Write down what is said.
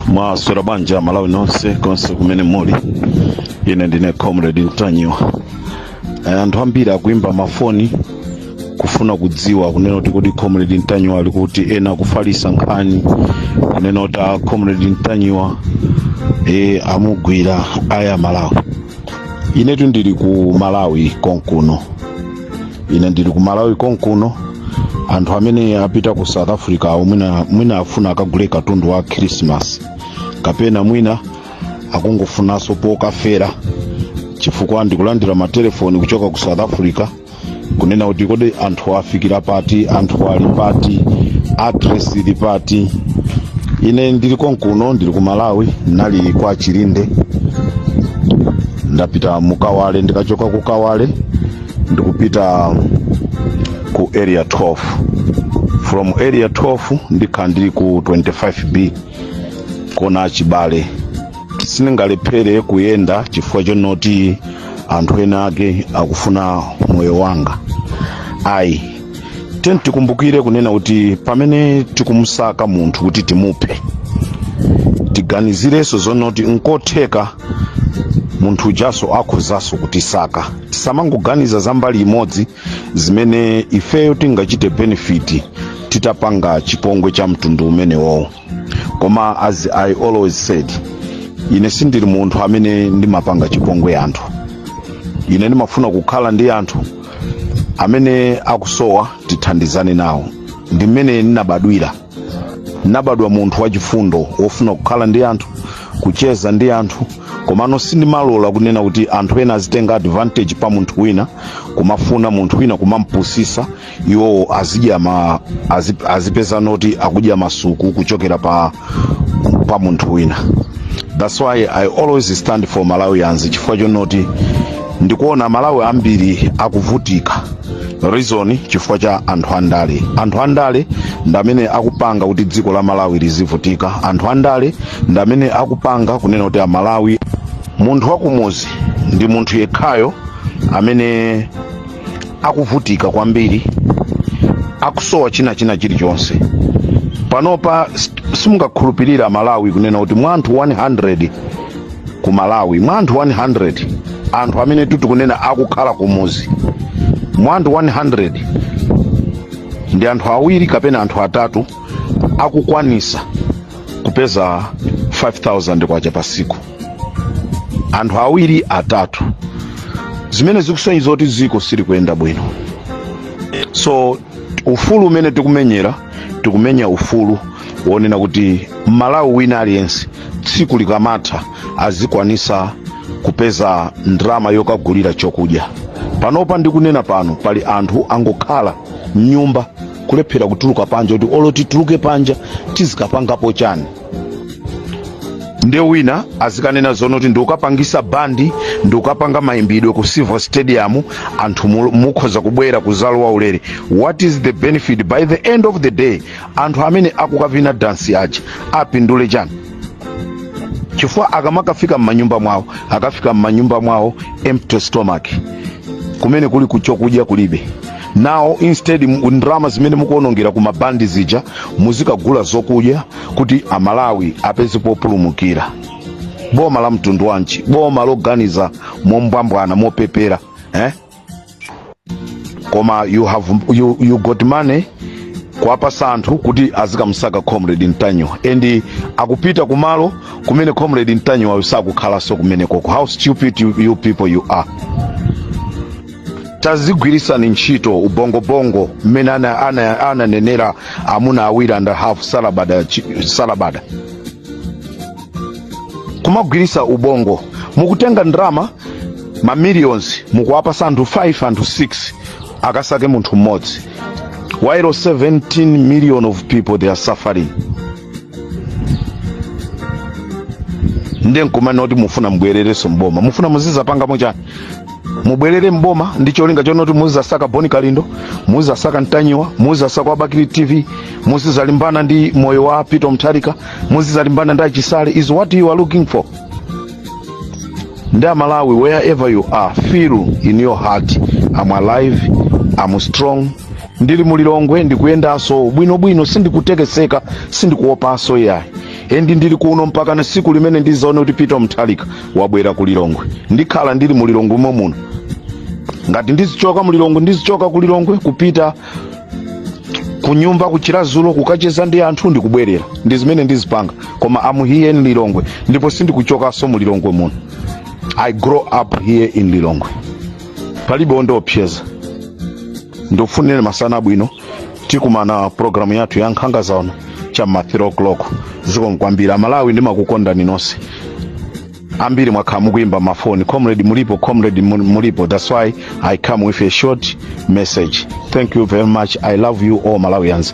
mwaswera bwanji a malawi nonse konse kumene muli ine ndine comrade mtanyiwa Eh, anthu ambiri akuimba mafoni kufuna kudziwa kunena kuti kodi comrade mtanyiwa ali kuti ena kufalisa nkhani kunena kuti a comrade mtanyiwa e, amugwira aya malawi inetu ndili ku malawi konkuno ine ndili ku malawi konkuno anthu amene apita ku south africa awo mwina, mwina afuna akagule katundu wa khrisimasi kapena mwina akungofunanso pokafera chifukwa ndikulandira matelefoni kuchoka ku south africa kunena kuti kodi anthu afikira pati anthu ali pati address ili pati ine ndili konkuno ndili ku malawi ndinali kwa chilinde ndapita mu kawale ndikachoka ku kawale ndikupita ku area 12 from area 12 ndikhala ndili ku 25b kona chibale sindingalephere kuyenda chifukwa chonoti anthu ena ake akufuna moyo wanga ayi tiyeni tikumbukire kunena kuti pamene tikumusaka munthu kuti timuphe tiganizirenso zonoti nkotheka munthu ujaso akhozanso kutisaka tisamangoganiza za mbali imodzi zimene ifeyo tingachite benefiti titapanga chipongwe cha mtundu umenewowo koma as i always said ine sindili munthu amene ndimapanga chipongwe anthu ine ndimafuna kukhala ndi anthu amene akusowa tithandizane nawo ndi mmene ndinabadwira ndinabadwa munthu wachifundo wofuna kukhala ndi anthu kucheza ndi anthu komano sindimalola kunena kuti anthu ena azitenga advantage pa munthu wina kumafuna munthu wina kumampusisa iwowo azidya ma azi, azipeza noti akudya masuku kuchokera pa pa munthu wina that's why i always stand for malawians chifukwa chonoti ndikuona amalawi ambiri akuvutika reason chifukwa cha anthu andale anthu andale ndamene akupanga kuti dziko la malawi lizivutika anthu andale ndamene akupanga kunena kuti amalawi munthu wakumuzi ndi munthu yekhayo amene akuvutika kwambiri akusowa china china chilichonse panopa s- simungakhulupirira malawi kunena kuti mwa anthu 100 ku malawi mwa anthu 100 anthu amene tikunena akukhala kumuzi mwa anthu 100 ndi anthu awiri kapena anthu atatu akukwanisa kupeza 5000 kwacha pasiku anthu awiri atatu zimene zikusonyeza kuti dziko silikuyenda bwino so ufulu umene tikumenyera tikumenya ufulu wonena kuti mmalawi wina aliyense tsiku likamatha azikwanisa kupeza ndalama yokagulira chokudya panopa ndikunena pano pali anthu angokhala mnyumba kulephera kutuluka panja kuti olo tituluke panja tizikapangapo chani nde wina azikanena zonoti ndikukapangisa bandi ndikukapanga mayimbidwe ku silver stadium anthu mu- mukhoza kubwera kuzalowa ulere what is the benefit by the end of the day anthu amene akukavina dansi uja apindule chani chifukwa akamakafika m'manyumba mwawo akafika m'manyumba mwawo empty stomach kumene kuli kuchokudya kulibe now instead mu- ndalama zimene mukuonongera ku mabandi zija muzikagula zokudya kuti amalawi apeze populumukira boma la mtundu wanji boma loganiza mombwambwana mopepera eh? koma you have you, you got money kuwapasa anthu kuti azikamsaka comrade ntanyiwa and akupita kumalo kumene comrade ntanyiwayo sakukhalanso kumenekoko how stupid you, you people you are tazigwirisani ntchito ubongo bongo mmene ana- ana- ananenera amuna awiri and a half salabada chi- salabada kumagwirisa ubongo mukutenga ndalama ma millions mukuwapasa anthu 5 anthu 6 akasake munthu mmodzi while 17 million of people they are suffering nde nkumanena kuti mufuna mubwererenso mboma mufuna muzizapangamo chani mubwerere mboma ndi cholinga chona kuti muzizasaka boni kalindo muzizasaka ntanyiwa muzizasaka wa bakili tv muzizalimbana ndi moyo wa peter mutharika muzizalimbana ndi chisale is what you are looking for nde amalawi wherever you are feel in your heart am alive am strong ndili mu lilongwe ndikuyendaso bwinobwino sindikutekeseka sindikuopaso iyayi endi ndili kuno mpakana siku limene ndizaone kuti peter mutharika wabwera ku lilongwe ndikhala ndili mu lilongwe momwe muno ngati ndizichoka mu lilongwe ndizichoka ku lilongwe kupita kunyumba ku chiradzulu kukacheza ndi anthu ndikubwerera ndi zimene ndizipanga koma am here in lilongwe ndipo sindikuchokaso mu lilongwe muno i grow up here in lilongwe palibe ondiopseza ndikufunireni masana abwino tikumana programu yathu ya nkhanga zaona cha ma 3 o'clock zikomo kwambiri amalawi ndimakukondani nonse ambiri mwakhala mukuimba mafoni comrade mulipo comrade mulipo that's why i come with a short message thank you very much i love you all malawians